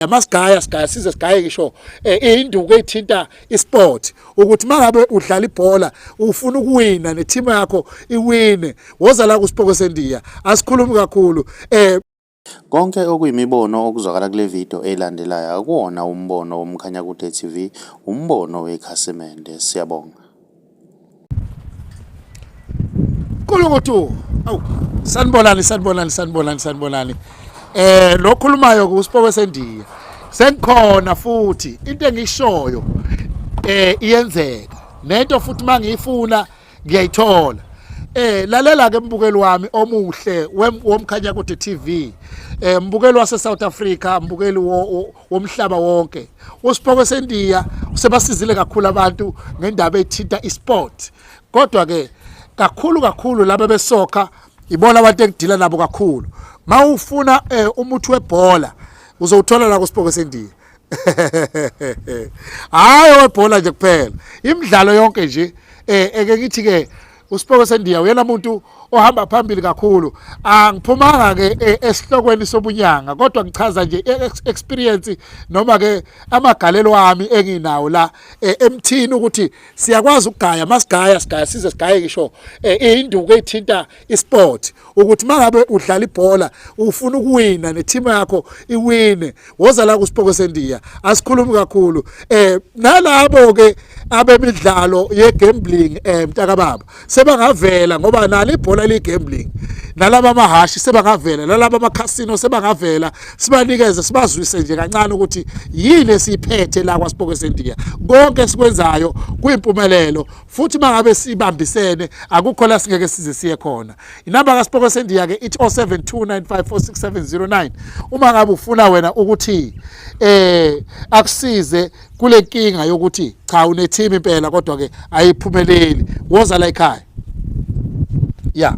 yamasigaya sigaya size sigaye ngisho eh, induku ethinta isport ukuthi mangabe udlala ibhola ufuna ukuwina neteam yakho iwine woza la kuSipoko seNdiya asikhulumi kakhulu eh Konke okuyimibono okuzwakala kule video elandelayo akuwona umbono woMkhanyakude TV, umbono wekhasimende. Siyabonga. Nkulukutu awu sanibonani sanibonani sanibonani sanibonani eh lo khulumayo ke usipoke sendiya sengikhona futhi into engishoyo eh iyenzeka nento futhi mangiyifuna ngiyayithola eh lalela ke mbukeli wami omuhle womkhanya kude TV eh mbukeli wase South Africa mbukeli wo womhlaba wonke uSiphoke seNdiya usebasizile kakhulu abantu ngendaba ethinta isport kodwa ke kakhulu kakhulu laba besoka ibona abantu engidila nabo kakhulu mawufuna eh, umuthi webhola uzowuthola la kuSiphoke seNdiya hayi webhola nje kuphela imidlalo yonke nje eh eke ngithi ke uSipho sendiya uyena muntu ohamba phambili kakhulu angiphumanga ke e, esihlokweni sobunyanga kodwa ngichaza nje e, experience noma ke amagalelo ami enginawo la e, emthini ukuthi siyakwazi ukugaya masigaya sigaya size sigaye ngisho induku ethinta isport ukuthi mangabe udlala ibhola ufuna ukuwina neteam yakho iwine woza la kuSipoko seNdiya asikhulumi kakhulu eh nalabo ke abemidlalo ye gambling eh mtaka baba sebangavela ngoba nalo ibhola li gambling nalaba amahashi sebangavela nalaba amakhasino sebangavela sibanikeze sibazwise nje kancane ukuthi yini esiphethe la kwaSipoko seNdiya konke sikwenzayo kuyimpumelelo futhi mangabe sibambisene akukho la singeke size siye khona Inamba kaSipoko Sendiya ke ithi 0729546709 uma ngabe ufuna wena ukuthi eh akusize kule nkinga yokuthi cha une team impela kodwa ke ayiphumeleli woza la ekhaya yeah